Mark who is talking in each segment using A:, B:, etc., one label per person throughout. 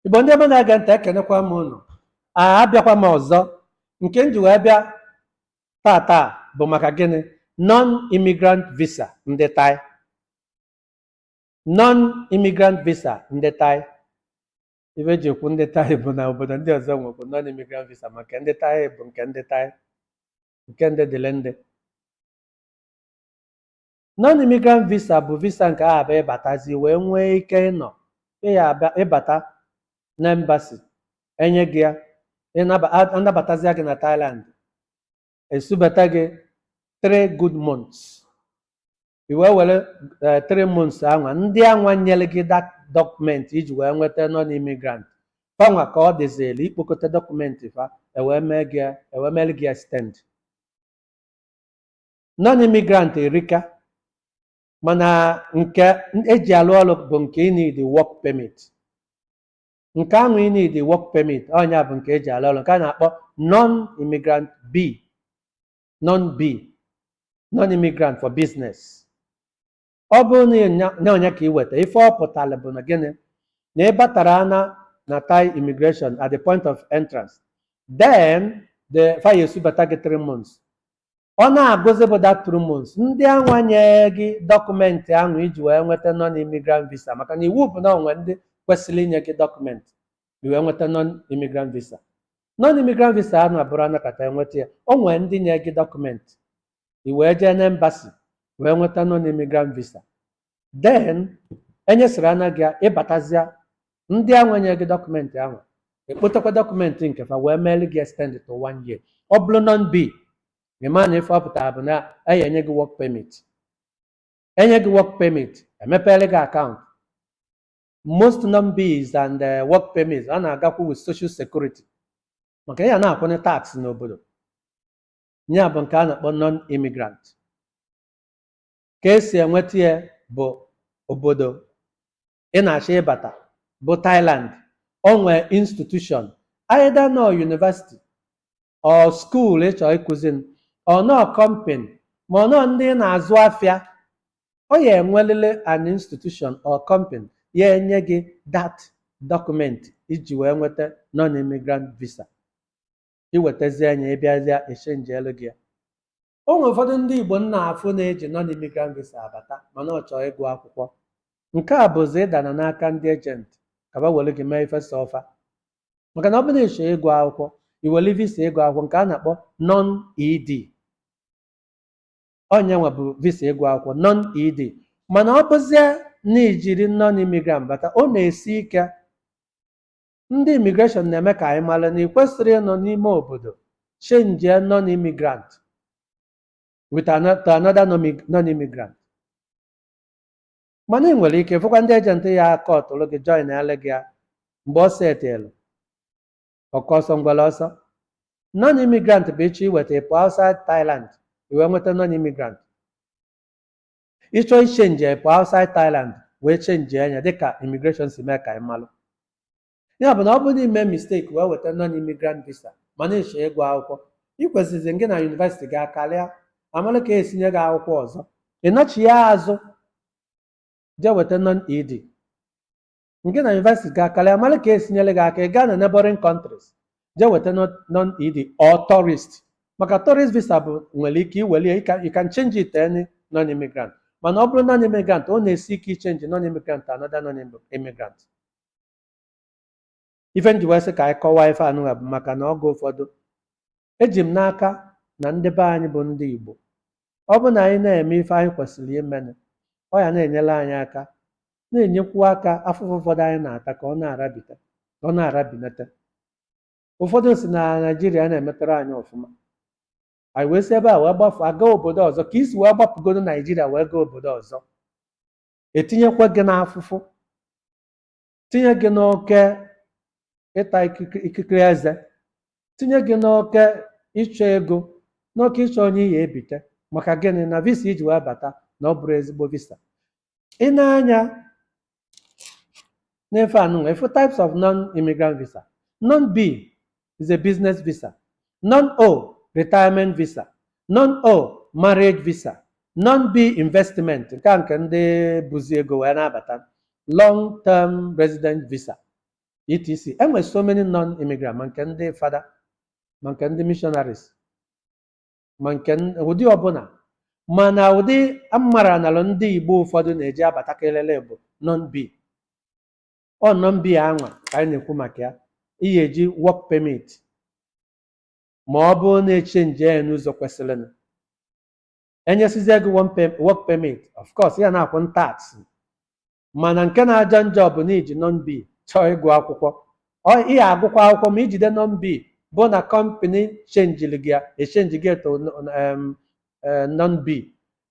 A: igbo ndị ọma na-ege ntị ekenekwa m unu a abịakwa m ọzọ nke m ji wee bịa taata bụ maka gịnị non-immigrant visa ndị Thai non-immigrant visa ndị Thai ife eji ekwu ndị Thai bụ na obodo ndị ọzọ nwekwu non imigrant visa ma nke ndị Thai bụ nke ndị Thai nke ndị dịlị ndị non imigrant visa bụ visa nke ahụ bụ ịbatazi wee nwee ike ịnọ ịya abịa ịbata na embassy enye gị ya ịnaba- a- anabatazia gị na Thailand esubata gị three good months i wee were eh, three months anwa ndị anwa nyere gị that document iji wee nweta non immigrant fanwa ka ọ dịzịrị ikpokọta dọkụmenti fa ewee mee gị ya- ewee mere gị extend non immigrant erika mana nke eji alụ ọrụ bụ nke ị need work permit nke ahụ ị need work permit ọ nya bụ nke eji alụ ọrụ nke a na-akpọ non immigrant b non-B non-immigrant for business ọ bụrụ na ịnya- na ọ nya ka i weta ife ọ pụtara bụ na gịnị na ị batara na na Thai immigration at the point of entrance then fa ya-esubata gị three months ọ na-agụzi bụ that three months ndị anwa nye gị dọkụmentị ahụ iji wee nweta non immigrant visa maka na iwu bụ na o nwe ndị kwesịrị inye gị dọkụmentị i wee nweta non immigrant visa non immigrant visa anwa abụrọ anọkata enweta ya o nwere ndị nye gị dọkụmentị i wee jee na embassy wee nweta non immigrant visa then enyesịrị ana gị ya ịbatazịa ndị anwa nye gị dọkụmentị ahụ ekpotekwa dọkụmentị nke fa wee meeli gị extend to one year ọ bụrụ non b ịma na ife ọ pụtara bụ na a ya-enye gị work permit enye gị work permit emepere gị akaụntụ most non-Bs and eh, work permits a na-agakwu with social security maka ị ya na-akwụnye tax n'obodo ya bụ nke a na-akpọ non-immigrant ka esi enweta ya bụ obodo ị na-achọ ịbata bụ Thailand o nwee institution either n'ọ university or school ị chọrọ ịkụzi ma ọ n'ọ company ma ọ n'ọ ndị ị na-azụ afịa ọ ya-enwelịlị an institution or company ya-enye gị that document iji wee nweta non-immigrant visa iwetazie nya ịbịazịa echenjielu gị ya o nwere ụfọdụ ndị Igbo m na-afụ na-eji non imigrant visa abata mana ọ chọọ ịgụ akwụkwọ nke a bụzi ịdana n'aka ndị ejenti ka ba were gị mee ife sọ fa maka na ọ bụrụ ị chọọ ịgụ akwụkwọ i were visa ịgụ akwụkwọ nke a na-akpọ non ed ọ nya nwa bụ visa ịgụ akwụkwọ non ed mana ọ bụzie na i jiri non imigrant bata ọ na-esi ike ndị imigreshọn na-eme ka anyị mara na ị kwesịrị ịnọ n'ime obodo chenjie non imigrant with ano- to another nomi- non imigrant mana ị nwere ike fụkwa ndị ejenti ya-akọtụrụ gị joinele gị ya mgbe o setelu oke ọsọ ngwere ọsọ non imigrant bụ ị chọọ iweta ị pụọ outside Thailand i wee nweta non imigrant ị chọọ ichenji ya pụọ outside Thailand wee chenjie nya dịka immigration si mee ka anyị malụ ya bụ na ọ bụrụ na i mee mistake wee weta non immigrant visa ma na-achọ ịgụ akwụkwọ ị kwesịrịzi gị na yunivesiti gị akarịa a malụ ka e si nye gị akwụkwọ ọzọ ị nachia azụ jee weta non ed ngị na yunivesiti gị akarịa a mara ka e si nyere gị aka ị gaa na neighboring countries jee weta non-ed or tourist maka tourist visa bụ nwere ike iwere ya you can, you can change it to any non-immigrant mana ọ bụrụ non-immigrant ọ na-esi ike ichenji non-immigrant to another non-immigrant Ife m ji wee sị ka anyị kọwaa ife anụnwa bụ maka na oge ụfọdụ eji m n'aka na ndị be anyị bụ ndị Igbo ọ bụ na anyị na-eme ife anyị kwesịrị imenụ ọ ya na-enyere anyị aka na-enyekwu aka afụfụ ụfọdụ anyị na-ata ka ọ na-arabita ka ọ na-arabinata ụfọdụ sị na Naịjirịa na emetarọ anyị ọfụma anyị wee si ebe a wee gbafụ gaa obodo ọzọ ka i si wee gbapụgodo Naịjirịa wee gaa obodo ọzọ etinyekwa gị n'afụfụ tinye gị n'oke ịta ikikere ikikere eze tinye gị n'oke ịchọ ego n'oke ịchọ onye ị ya-ebite maka gịnị na visa i ji wee bata na ọ bụrọ ezigbo visa ị nee anya n'ife anụnwa ị fụ types of non-immigrant visa non-b is a business visa. Non-O, retirement visa. Non-O, marriage visa. Non-B, investment. Nke a nke ndị buzi ego wee na-abata. Long term resident visa. etc. E nwere so many non-immigrant ma nke ndị fada ma nke ndị missionaries ma nke n- ụdị ọbụla mana ụdị amara nalụ ndị Igbo ụfọdụ na-eji abata kelele bụ non-B. ọ non-b anwa ka anyị na-ekwu maka ya ị ga-eji work permit ma ọ bụrụ na echenji ya n'ụzọ kwesịrịnụ enyesizie gị one pe- work permit of course ị ya na-akwụ tax mana nke na-aja njọ bụ na iji non-b chọọ ịgụ akwụkwọ ị ya-agụkwa akwụkwọ ma ijide non-b bụ na kọmpani chenjiri gị ya echenji gị to non-b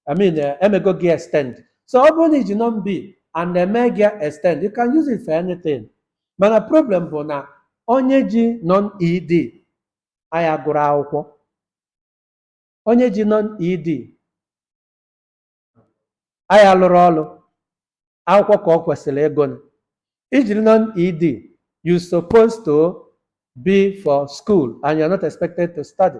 A: I mean, uh, emego gị extend. So ọ bụrụ na iji non-B and eme gị extend, you can use it for anything. Mana problem bụ na onye ji non-ED aya agụrụ akwụkwọ. Onye ji non-ED aya alụrụ ọlụ akwụkwọ ka o kwesịrị ịgụ. Ijiri non-ED, you supposed to be for school and you're not expected to study.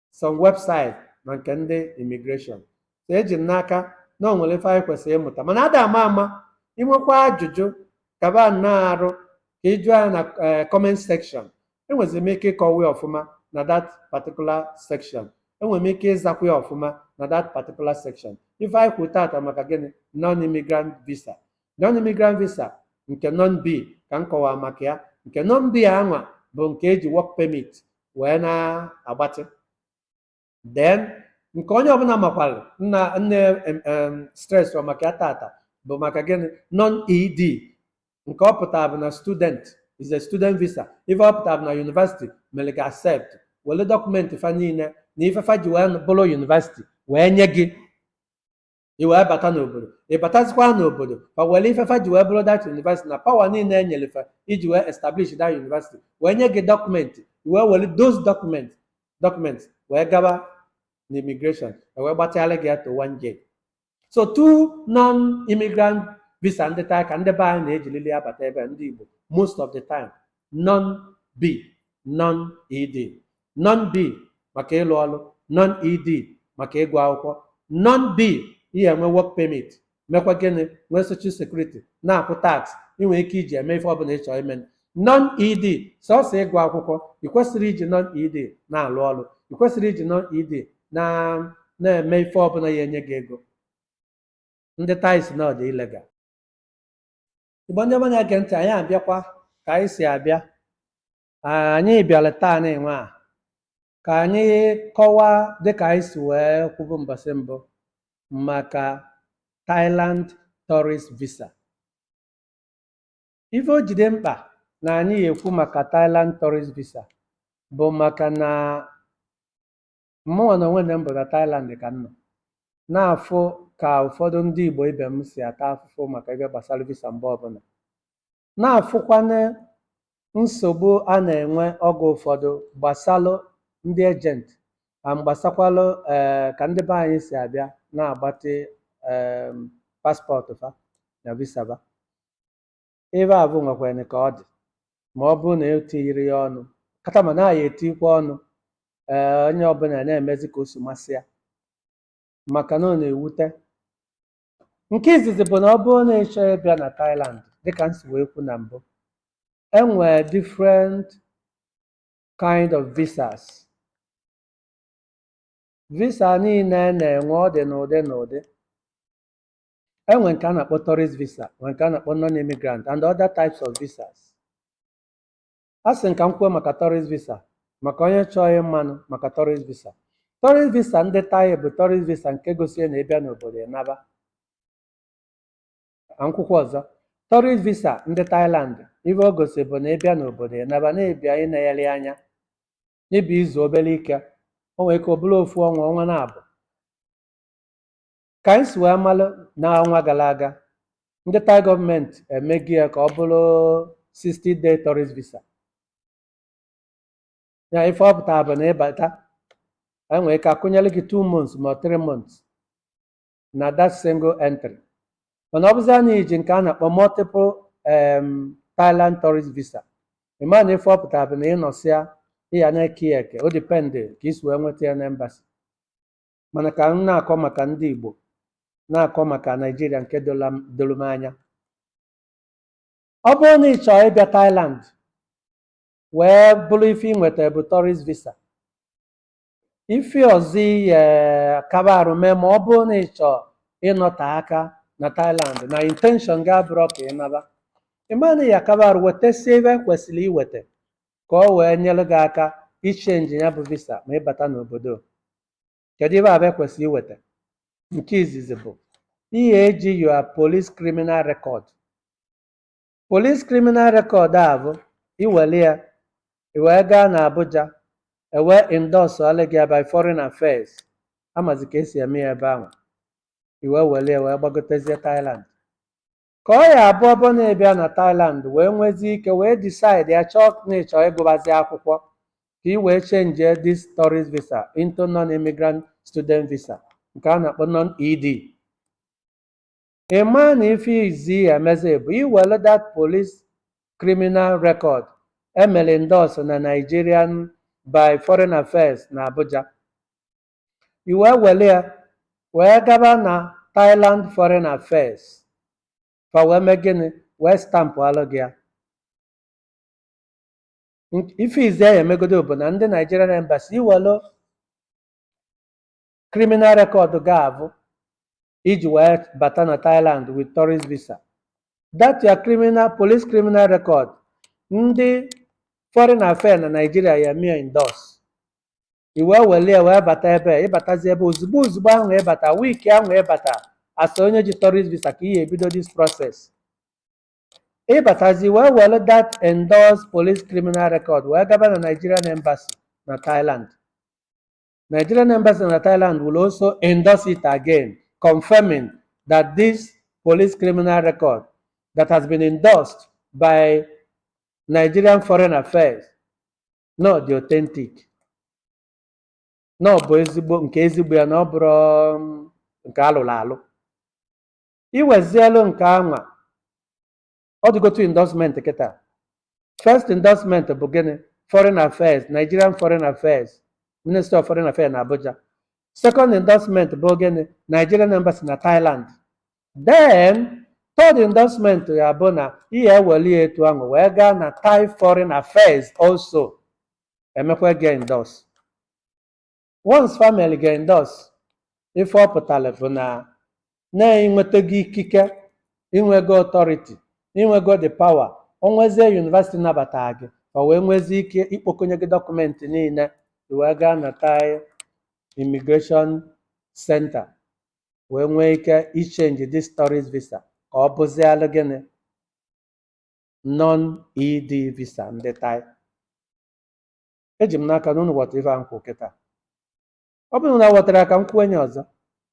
A: some website na nke ndị immigration so eji m n'aka na o nwere ife anyị kwesịrị ịmụta mana ada ama ama inwekwa ajụjụ kaba nnọọ arụ ka ị jụọ ya na eh, comment section enwezi m ike ịkọwa ya ọfụma na that particular section enwere m ike ịzakwa ya ọfụma na that particular section ife anyị kwuru tata maka gịnị non-immigrant visa non-immigrant visa nke non-b ka m kọwara maka ya nke non-b anwa bụ nke eji work permit wee na-agbatị then nke onye ọbụla makwara na m na-eme, em, stress ọ maka ya tata bụ maka gịnị non ed nke ọ pụtara bụ na student is a student visa ife ọ pụtara bụ na university mere gị accept were dọkụmenti fa niile na ife fa ji wee bụrụ university wee nye gị i wee bata n'obodo ị batazikwa n'obodo fa were ife fa ji wee bụrụ that university na power niile enyere fa iji wee establish that university wee nye gị dọkụmenti i wee were those dọkụmenti wee gaba na immigration e wee gbatịara gị ya to one year so two non-immigrant visa ndị taa ka ndị be anyị na-ejirili abata ebe a, ndị Igbo most of the time non b non ed non b maka ịlụ ọrụ non ed maka ịgụ akwụkwọ non b ị ya-enwe work permit mekwa gịnị nwee social security na-akwụ tax ị nwere ike iji eme ife ọbụla ị chọrọ ime non ed sọsọ ịgụ akwụkwọ ị kwesịrị iji non ed na-alụ ọrụ ị kwesịrị iji non ed na na-eme ife ọbụla ya enye gị ego ndị Thai sị na ọ dị illegal Igbo ndị ọma na-ege ntị anyị abịakwa ka anyị si abịa Ah, anyị bịara taa nịnwa a ka anyị kọwaa dịka anyị si wee kwubu mbọsị mbụ maka Thailand tourist visa ife o ji dị mkpa na anyị ya-ekwu maka Thailand tourist visa bụ maka na Mụnwa na onwe m bụ na Thailand ka m nọ, na-afụ ka ụfọdụ ndị Igbo ibe m si ata afụfụ maka ife gbasara visa mgbe ọbụla, na-afụkwanụ nsogbu a na-enwe oge ụfọdụ gbasalụ ndị ejenti and gbasakwalụ ee ka ndị be anyị si abịa na-agbatị ee paspọtụ fa na visa fa. Ife afụ nwekwanụ ka ọ dị ma ọ bụrụ na e tinyere ya ọnụ kata mana a ya-etikwa ọnụ ee onye ọbụla na-emezi ka o si masị ya maka na ọ na-ewute nke izizi bụ na ọ bụrụ na ị chọọ ịbịa na Thailand dịka m si wee kwu na mbụ e nwere different kind of visas visa niile na-enwe ọ dị n'ụdị n'ụdị e nwere nke a na-akpọ tourist visa nwere nke a na-akpọ non-immigrant and other types of visas asị m ka m kwuo maka tourist visa maka onye chọọ ịmanụ maka tourist visa tourist visa ndị Thai bụ tourist visa nke gosiri na ị bịa n'obodo ị naba ka m kwukwa ọzọ tourist visa ndị Thailand ife o gosi bụ na ị bịa n'obodo ị naba na ị bịa inegharị anya na ị bịa izu obere ike o nwere ike ọ bụrụ ofu ọnwa ọnwa naabọ ka anyị si wee malụ n'ọnwa gara aga ndị Thai gọọmenti emego ya ka ọ bụrụ 60 day tourist visa ya ife ọ pụtara bụ na ị bata e nwere ike a kụnyere gị 2 months ma 3 months na that single entry mana ọ bụzia na i ji nke a na-akpọ multiple um, Thailand tourist visa ị ma na ife ọ pụtara bụ na ị nọsịa ị ya na-eke ya eke o dipendị ka i si wee nweta ya na embassy mana ka m na-akọ maka ndị Igbo na-akọ maka Naịjirịa nke doro m- doro m anya ọ bụrụ na ị chọọ ịbịa Thailand wee bụrụ ife ị nweta bụ tourist visa ife ọzọ ị ya-akaba arụ mee ma ọ bụrụ na ị chọọ ịnọte aka na Thailand na intention gị abụrọ ka ị naba ị ma na ị ya-akaba arụ wetasịa ife i kwesịrị iweta ka o wee nyere gị aka ichenji ya bụ visa ma ị bata n'obodo kedu ife afụ i kwesịrị iweta nke izizi bụ ị ya-eji your police criminal record police criminal record afụ i were ya i wee gaa na Abuja e wee endorse-ọlụ gị by foreign affairs a mazi ka e si eme ya ebe ahụ i wee were ya wee gbagotezie Thailand Ka ọ ya-abụ ọ bụ na ị bịa na Thailand wee nwezie ike wee decide ya chọọ na ị chọọ ịgụbazi akwụkwọ ka ị wee change this tourist visa into non-immigrant student visa nke a na-akpọ non-ED. Ị maa na ife izi ị ya-emezi bụ i were that police criminal record emere endorse na Nigerian by Foreign Affairs na Abuja i wee were ya wee gaba na Thailand Foreign Affairs fa wee mee gịnị wee stampụalụ gị ya Nk- ife izi ị ya-emegodo bụ na ndị Nigerian Embassy i welu criminal record gị ahụ i ji wee bata na Thailand with tourist visa that your criminal police criminal record ndị foreign affairs na Nigeria ya mee endorse i wee were ya wee bata ebe a, ị batazi ebe ozugbo ozugbo ahụ ị bata wiiki ahụ ị bata as onye ji tourist visa ka ị ya-ebido this process ị batazi wee were that endorsed police criminal record wee gaba na Nigerian embassy na Thailand Nigerian embassy na Thailand will also endorse it again confirming that this police criminal record that has been endorsed by Nigerian Foreign Affairs na ọ dị authentic na ọ bụ ezigbo nke ezigbo ya na ọ bụrọ um, nke alụrụ alụ i wezielu nke anwa ọ dịgo two endorsement kịta first endorsement bụ gịnị foreign affairs nigerian foreign affairs minister of foreign affairs na abuja second endorsement bụ gịnị nigerian embassy na thailand then third endorsement ya bụ na ị ya-eweli ya etu ahụ wee gaa na Thai foreign affairs also emekwa gị ya endorse once fa melu gị ya endorse ife ọ pụtara bụ na i nwetago ikike i nwego authority i nwego the power o nwezie university nabata gị o wee nwezie ike ikpokọnye gị dọkụmenti niile i wee gaa na Thai immigration center wee nwee ike ichenji this tourist visa ka ọ bụzialụ gịnị non-ED visa ndị Thai eji m n'aka na unu ghọtara ife a m kwuru kịta ọ bụrụ na unu aghọtarọ ka m kwuenye ọzọ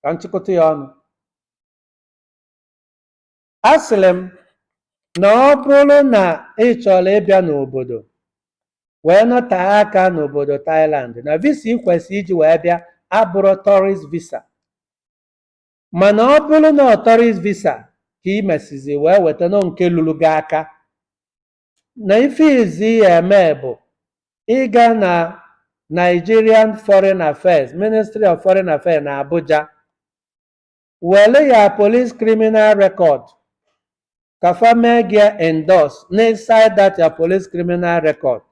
A: ka m chịkọta ya ọnụ A sịrị m na ọ bụrụ na ị chọrọ ịbịa n'obodo wee nọtee aka n'obodo Thailand na visa ị kwesịrị iji wee bịa abụrọ tourist visa mana ọ bụrụ na ọ tourist visa ka ị mesizi wee weta na ọ nke luru gị aka na ife izi ị ya-eme bụ ịga na Nigerian Foreign Affairs Ministry of Foreign Affairs na Abuja were your police criminal record ka fa mee gị endorse n'inside that your police criminal record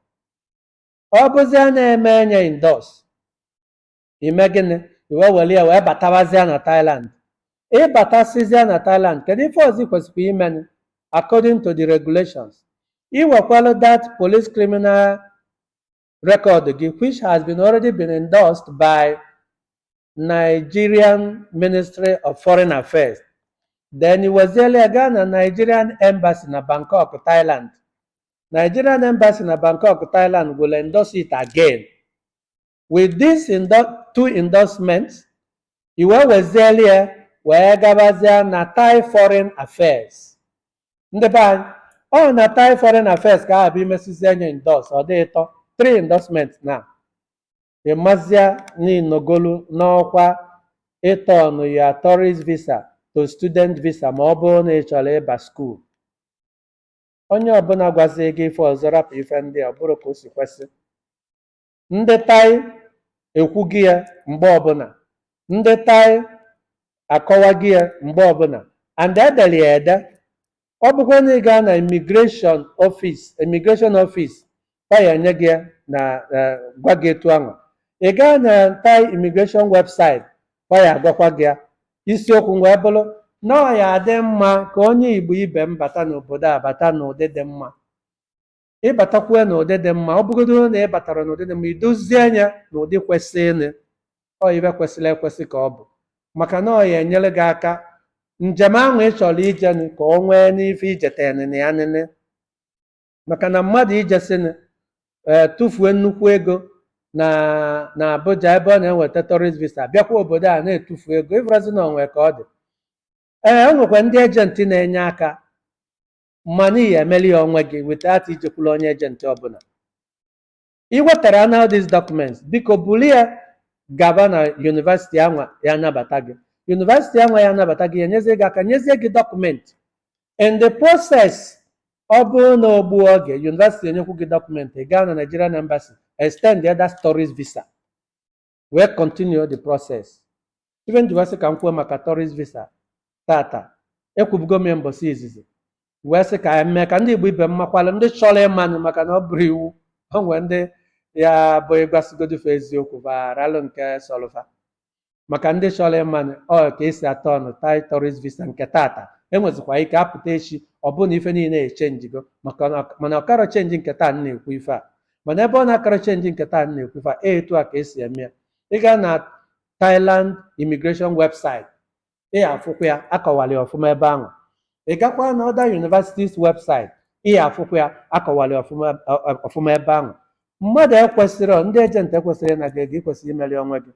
A: ọ bụzia na emee nya endorse ime gịnị i wee were ya wee batawazịa na Thailand ịbatasịzịa na Thailand kedu ife ọzọ ị kwesịrị imenụ according to the regulations iwekwalụ that police criminal record gị which has been already been endorsed by Nigerian Ministry of Foreign Affairs then iweziela ya gaa na Nigerian Embassy na Bangkok Thailand Nigerian Embassy na Bangkok Thailand will endorse it again with these endo two endorsements iwe weziela ya wee gabazie na Thai Foreign Affairs ndị be anyị ọ na Thai foreign affairs ka aha bụ imesizie nya endorse ọ dị ịtọ three endorsement na ịmazia na ị nọgolu n'ọkwa ịtọnụ your tourist visa to student visa ma ọ bụrụ na ị chọrọ ịba school onye ọbụla gwazie gị ife ọzọ rapụ ife ndị a ọ bụrọ ka o si kwesị ndị Thai ekwugo ya mgbe ọbụla ndị Thai akọwago ya mgbe ọbụla and edere ya ede ọ bụkwa na ị gaa na immigration office immigration office ọ ya enye gị ya na eh, gwa gị etu ahụ ị gaa na Thai immigration website ọ ya agwakwa gị ya isiokwu wee bụrụ na ọ ya adị mma ka onye igbo ibe m bata n'obodo a bata n'ụdị dị mma ịbatakwue n'ụdị dị mma ọ bụgodoro na ị batara n'ụdị dị mma idozie anya na ụdị kwesịrịnụ ọ ife kwesịrị ekwesị ka ọ bụ maka na ọ ya enyere gị aka njem ahụ ị chọrọ ijenụ ka o nwee n'ife ijetenụ na ya nene maka na mmadụ ijesịnụ ee tụfuo nnukwu ego na na Abuja ebe ọ na-enweta tourist visa bịakwa obodo a na-etufu ego ịfụrọzi na o nwe ka ọ dị ee o nwekwa ndị ejenti na-enye aka mana ị ya emeli ya onwe gị without ijekwula onye ejenti ọbụla ị wetara ya na these documents biko buru ya gaba na university anwa ya anabata gị university anwa ya anabata gị ya enyezie gị aka nyezie gị dọkụmenti in the process ọ bụrụ na o gbuo oge university enyekwu gị dọkụmenti ị gaa na Nigerian embassy extend ya that tourist visa wee continue the process ife m ji wee sị ka m kwuo maka tourist visa tata ekwubugo m ya mbọsị izizi wee sị ka anyị mee ka ndị igbo ibe m makwalụ ndị chọrọ ịmanụ maka na ọ bụrọ iwu o nwee ndị ya abụ ị gwasịgodu fa eziokwu fa arọlụ nke sọlụ fa maka ndị chọrọ ịmanụ ọ ka esi atọnụ Thai tourist visa nke tata enwezikwa ike apụta echi ọ bụrụ na ife niile echenjigo maka na- mana ọ karọ chenji nke taa na-ekwu ife a mana ebe ọ na-akarọ chenji nke taa na-ekwu ife a etu a ka esi eme ya ị gaa na Thailand immigration website ị afụkwa ya akọwara ya ọfụma ebe ahụ ị gakwa na other universities website ị afụkwa ya akọwara ya ọfụma ọ- ọ- ọfụma ebe ahụ mmadụ ekwesịrọ, ndị ejenti ekwesịrọ ịna gị ego i kwesịrị imeri onwe gị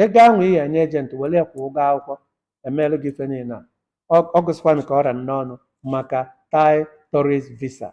A: ego ahụ ị enye ejenti were ya kwụọ ụgwọ akwụkwọ emeelụ gị ife niile a ọ ọ gwụsịkwanụ ka ọ ra n'ọnụ maka Thai tourist visa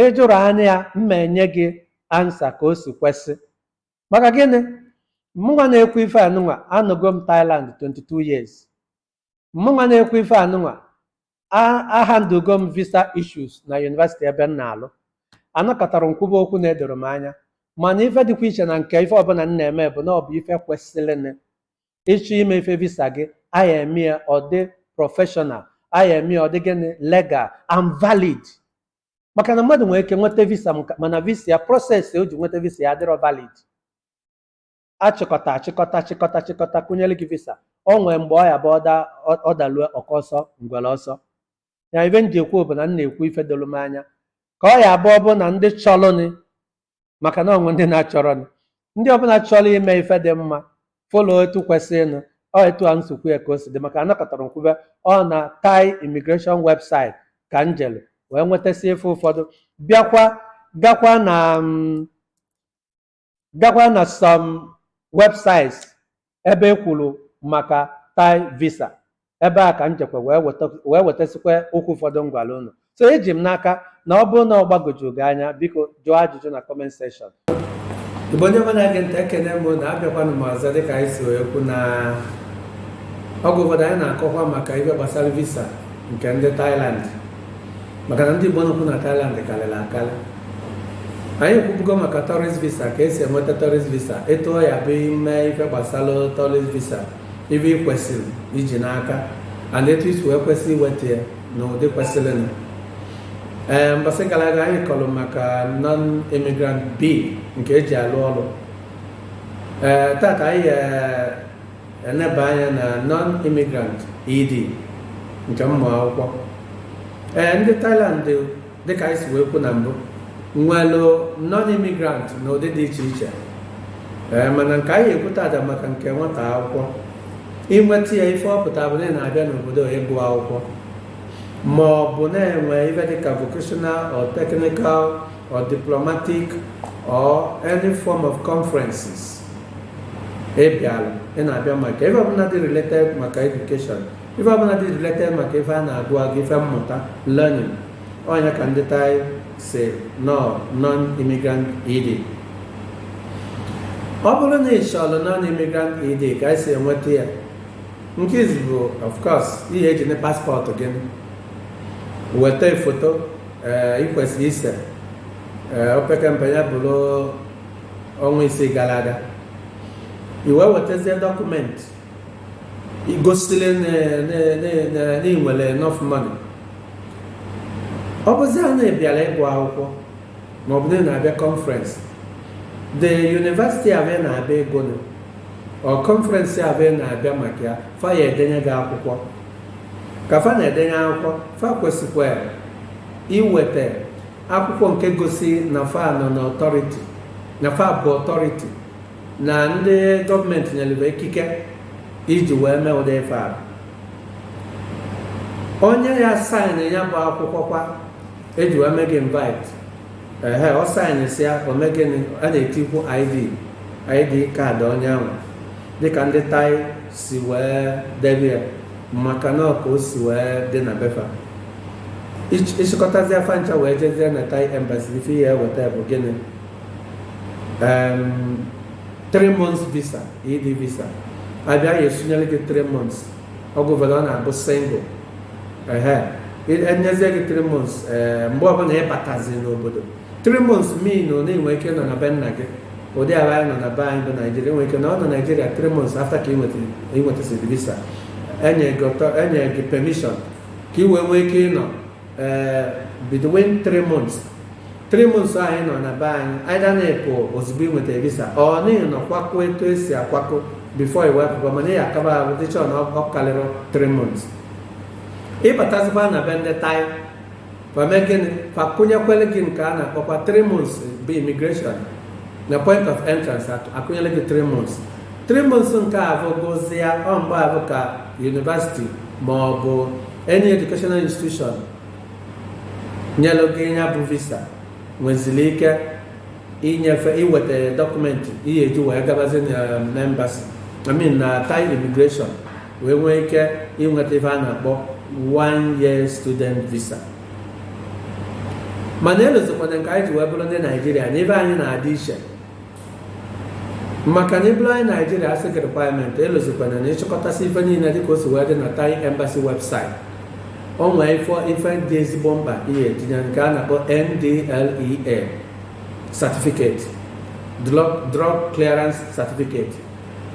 A: Ị jụrụ anyị ya, m ma enye gị ansa ka o si kwesị. Maka gịnị? Mụnwa na-ekwu ife anụnwa anọgo m Thailand 22 years. Mụnwa na-ekwu ife anụnwa ahandụgo m visa issues na university ebe m na-alụ. Anọkatarọ m kwuba okwu na-edorọ m anya mana ife dịkwa iche na nke ife ọbụla m na-eme bụ na ọ bụ ife kwesịrịnụ. ịchọ ime ife visa gị a ya-eme ya ọ dị professional a ya-eme ya ọ dị gịnị legal and valid maka na mmadụ nwere ike nweta visa maka- mana visa ya process o ji nweta visa ya adịrọ valid achịkọta achịkọta achịkọta achịkọta kụnyere gị visa o nwee mgbe ọ ya-abụ ọda ọ- ọ dalue oke ọsọ ngwere ọsọ ya ife m ji ekwu bụ na m na-ekwu ife doro m anya ka ọ ya abụ ọ bụ na ndị chọlụnị maka na o nwe ndị na-achọrọnụ. ndị ọbụla chọrọ ime ife dị mma follow etu kwesịrịnụ ọ etu a m si kwuo ya ka o si dị maka anọkatarọ m kwube ọ na Thai immigration website ka m jere wee nwetasị ife ụfọdụ bịakwa gakwa na mm, gakwa na some websites ebe e kwuru maka Thai visa ebe a ka m jekwa wee weta wee wetasịkwa okwu ụfọdụ m gwara unu so eji m n'aka na ọ bụrụ na ọ gbagoju gị anya biko jụọ ajụjụ na comment section igbo onye ọbụla na-ege ntị ekene m unu abịakwanụ m ọzọ dịka anyị si wee kwu na okwu ụfọdụ anyị na-akọkwa maka ihe gbasara visa nke ndị Thailand maka na ndị Igbo nọkwu na Thailand karịrị akarị anyị ekwubugo maka tourist visa ka e si enweta tourist visa etu ọ ya-abụ i me ife gbasara tourist visa ife ị kwesịrị iji n'aka and etu i si wee kwesị iweta ya n'ụdị kwesịrịnụ ee mbọsị gara aga anyị kọrọ maka non-immigrant B nke e ji alụ ọrụ ee taata anyị Eneba anya na non-immigrant ED nke ụmụ akwụkwọ. Ee, ndị Thailand dịka anyị si wee kwu na mbụ nwelụ non-immigrant n'ụdị dị iche iche ee mana nke anyị ekwu taata maka nke nwata akwụkwọ i nweta ya ife ọ pụta bụ na ị na-abịa n'obodo ịgụ akwụkwọ ma ọ bụ na-enwe ife dịka vocational or technical or diplomatic or any form of conferences ị bịara ị na-abịa maka ife ọbụla dị related maka education ife ọbụla dị related maka ife a na-agụ agụ ife mmụta learning ọ nya ka ndị Thai sị na ọ non-immigrant ED ọ bụrụ na ị chọrọ non-immigrant ED ka i si enweta ya nke izizi bụ of course ị ya-ejinụ passport gị weta foto ị kwesịrị ise opekempe ya bụrụ ọnwa ise gara aga i wee wetazie dọkụmentị igosile na i nwere enough money ọ bụzịa na ị bịara ịgụ akwụkwọ ma ọ bụ na ị na-abịa conference the university ebe ị na-abịa ịgụ ma ọ conference ebe ị na-abịa maka ya fa ya-edenye gị akwụkwọ ka fa na-edenye akwụkwọ fa kwesịkwara iweta akwụkwọ nke gosi na fa nọ na authority na fa bụ authority na ndị gọọmenti nyelebe ikike iji wee mee ụdị ife a onye ya-asaịnị ya bụ akwụkwọ ka e ji wee mee gị invite ehe ọ saịnịsịa o mee gịnị a na-etikwu id id kaadị onye ahụ dịka ndị Thai si wee debe ya maka na ọ ka o si wee dị na be fa ị chịkọtazịa fa ncha wee jezie na Thai embassy ife ị ya-enweta bụ gịnị three months visa ED visa ebe a ya-esunyere gị three months oge ọbụla ọ na-abụ single ehe e nyezie gị three months mgbe ọbụla ị batazi n'obodo three months mean na i nwe ike nọ na be nna gị ụdị ala anyị nọ na be anyị bụ naijiria i nwe ike nọ na naijiria three months after ka ị nwetasịrị visa e nye gị permission ka ị wee nwee ike ịnọ eh, between three months three months anyị nọ na be anyị either na ị pụ ozugbo ị nweta visa or na ị na-akwakọ etu e si akwakọ before i wee pụba mana ị akaba ahụ dịchọ na ọ karịrị three months ị batazikwa na be ndị Thai fa emee gịnị fa akụnyekwara gị nke a na-akpọkwa 3 months bụ immigration na point of entrance a kụnyere gị 3 months 3 months nke afụ gwụzịa ọ mgbe afụ ka university ma ọ bụ any educational institution nyelụ gị ya bụ visa nweziri ike inyefe iweta dọkụmentị ị ya-eji wee gabazi na embassy I mean na Thai immigration wee nwee ike inweta ife a na-akpọ one year student visa mana elozọkwana nke anyị ji wee bụrụ ndị naijiria na ife anyị na-adị iche maka na ị bụrụ onye naijiria a sị gị requirement elozọkwana na ị chịkọtasịa ife niile dịka o si wee dị na Thai embassy website o nwee ife ife dị ezigbo mkpa ị ya-etinye nke a na-akpọ NDLEA certificate drug clearance certificate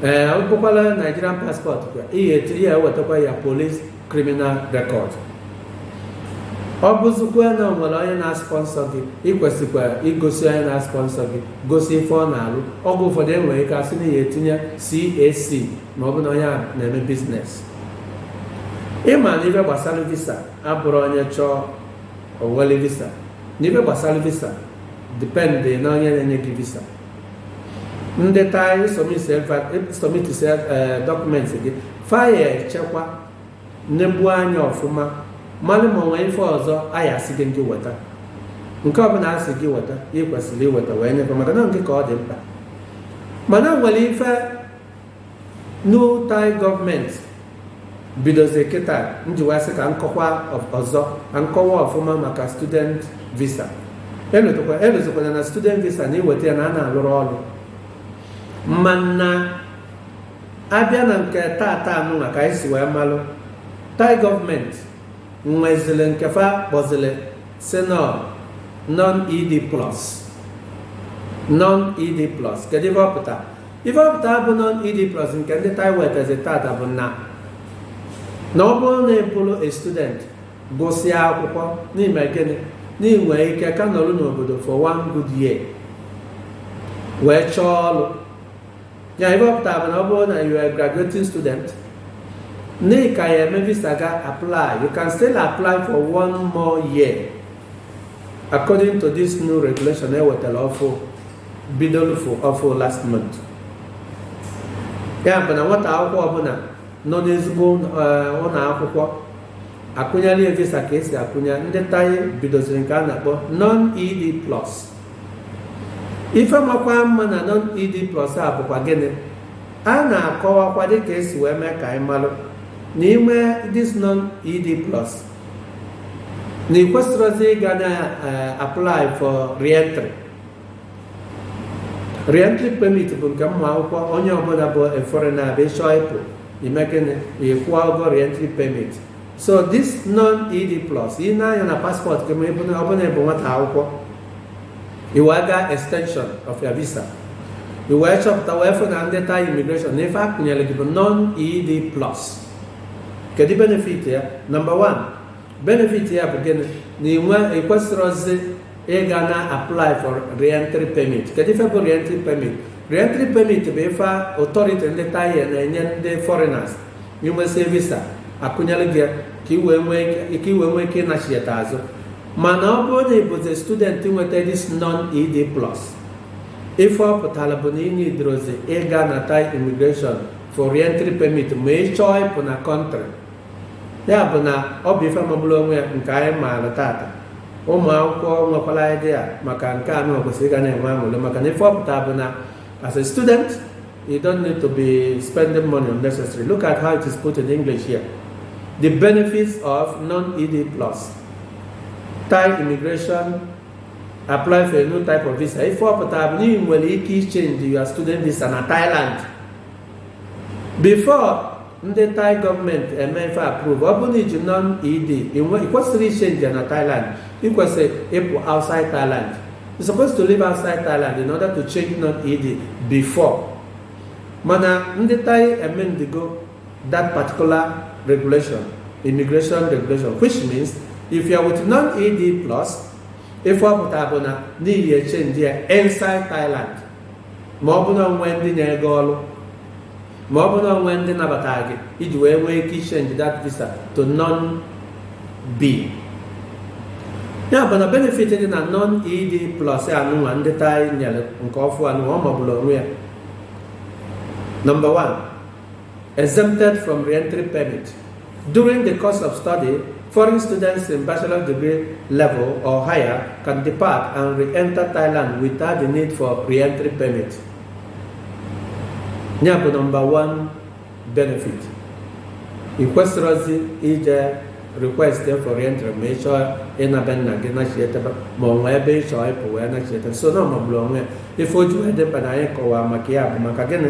A: ee ọ bụkwala Nigerian passport ka ị ga-etiri ị ya-ewetakwa ya police criminal record ọ bụzikwa na o nwere onye na-aspọnsọ gị ị kwesịkwa igosi onye na-aspọnsọ gị gosi ife ọ na-alụ oge ụfọdụ e nwere ike a sị na ị ya-etinye CAC ma ọ bụ na onye a na-eme business ị ma na ife gbasara visa abụrọ onye chọọ o wele visa na ife gbasara visa dependị na onye na-enye gị visa ndị Thai ị submitisịa e, e, dọkụmentị gị fa ya-echekwa nnebu anya ọfụma malụ ma nwee ife ọzọ a ya-asị gị ndị weta nke ọbụla asị gị weta ị kwesịrị iweta wee nye fa maka na nke ka ọ dị mkpa mana nwere ife new Thai gọọmenti bidozie kịta m ji wee sị ka m kọwaa ọzọ ka m kọwaa ọfụma maka student visa elozikwana na student visa na i weta ya na a na-alụrụ ọrụ mana abịa na nke tata anụnwa ka anyị si wee malụ Thai gọọmenti nwezili nke fa kpọzili sị non-ed plus non-ed plus kedu ife ọ pụtara Ife ọpụta bụ non-ED Plus nke ndị Thai wetazi tata bụ na na ọ bụrụ na ị bụrụ a student gụsịa akwụkwọ na ị mee gịnị na ị nwere ike ka nọrọ n'obodo for one good year wee chọọ ọrụ ya ife ọpụta bụ na ọ bụrụ na you are a graduating student na ị ka ya eme visa ga apply you can still apply for one more year according to this new regulation ewetara ọfụ bidoro ọfụ ọfụ last month ya bụ na nwata akwụkwọ ọbụla nọ n'ezigbo eh, ụlọ akwụkwọ akụnyere ya visa ka esi akụnye ndị Thai bidoziri nke a na-akpọ non-ed plus ife makwa mma na non-ed plus a bụkwa gịnị a na-akọwakwa dịka esi wee mee ka anyị malụ na i nwee this non-ed plus na ị kwesịrọzi ịga na eh, apply for reentry Reentry permit bụ nke ụmụ akwụkwọ onye ọbụla bụ a foreigner abịa ị chọọ ịpụ ị mee gịnị ị kwụọ ụgwọ reentry permit so this non-ed plus i nee anya na paspọtụ gị ma ọ bụrụ na ị bụ nwata akwụkwọ ị wee gaa extension of your visa ị wee chọpụta wee fụ na ndị Thai immigration na ife akụnyere gị bụ non-ed plus kedu benefit ya number one benefit ya bụ gịnị na ị kwesịrọzi ịga na apply for reentry permit kedu ife bụ reentry permit reentry permit bụ ife authority ndị Thai na-enye ndị foreigners i nwesịa visa akụnyere gị ya ka i wee nwee ike ịnachieta azụ mana ọ bụrụ na ị bụzi student nweta this non ed plus ife ọ pụtara bụ na ị nidrozi ịga na Thai immigration for reentry permit ma ị chọọ ịpụ na country ya bụ na ọ bụ ife magburu onwe ya nke anyị maara tata ụmụ akwụkwọ nwekwara idea maka nke anụ kwesịrị ịga na-enwe aṅụrị maka na ife ọ pụta bụ na as a student you don't need to be spending money unnecessary look at how it is put in English here the benefits of non-ED plus Thai immigration apply for a new type of visa ife ọ pụta bụ na ị nwere ike ichenji your student visa na Thailand before ndị Thai government approve ọ bụrụ na i ji non ed ị kwesịrọ ichenji ya na Thailand ị kwesịrị ịpụ outside Thailand you supposed to leave outside Thailand in order to change non ed before mana ndị Thai amendigo that particular regulation immigration regulation which means if you are with non ed plus ife ọ pụtara bụ na ị nwere ike ichenji ya inside Thailand ma ọ bụ na o nwee ndị nyere gị ọrụ ma ọ bụ na o nwee ndị nabatara gị iji wee nwee ike ichenji that visa to non b ya bụ na benefit dị na non ed plus anụnwa ndị Thai nyere nke ọfụụ anụnwa ọ magburu onwe ya number one Exempted from re-entry permit. During the course of study, foreign students in bachelor degree level or higher can depart and re-enter Thailand without the need for re-entry permit. Ya bụ number one benefit. Ị kwesịrọzi ije request for re-entry ma ị chọọ ịna be nna gị nachietebe ma o nwee ebe ị chọọ ịpụ wee nachietebe so na ọ magburu onwe ya ife o ji wee dị mkpa na anyị kọwaa maka ya bụ maka gịnị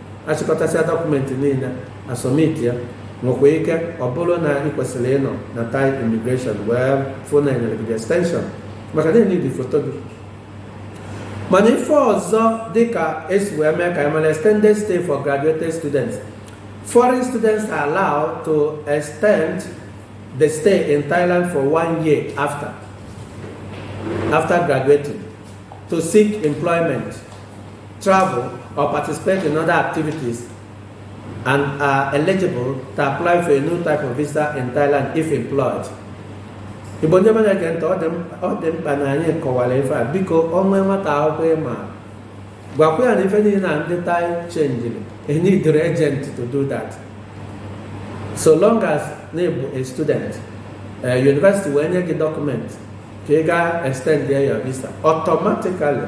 A: achịkọtasịa document niile a submit ya nwekwa ike ọ bụrụ na ị kwesịrị ịnọ na Thai immigration wee fụ na e nyere gị the extension maka na e need foto gị mana ife ọzọ dị ka e si wee mee ka anyị mara extended stay for graduated students foreign students are allowed to extend the stay in Thailand for one year after after graduating to seek employment travel or participate in other activities and are eligible to apply for a new type of visa in Thailand if employed. Igbo ndị ọma na-ege ntị ọ dị mkpa na anyị kọwara ife a biko o nwee nwata akwụkwọ ị ma gwakwa ya na ife niile na ndị Thai chenjiri i needirọ agent to do that so long as na ị bụ a student eh, university wee nye gị document ka ị gaa extend your visa automatically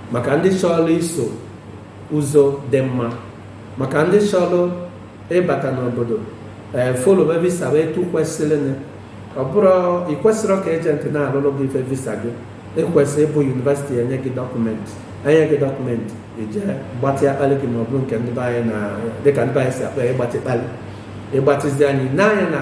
A: maka ndị chọrọ iso ụzọ dị mma maka ndị chọrọ ịbata n'obodo ee eh, folobe visa bụ etu kwesịrịnụ ọ bụrọ ị kwesịrọ ka agent na-alụrụ gị ife visa gị ekwesị ịbụ university enye gị document enye gị document ị jee gbatịa akpalị gị ma ọ bụrụ nke ndị be anyị na dịka ndị be anyị si akpa ịgbatị kpalị ịgbatịzi anyị n'anya na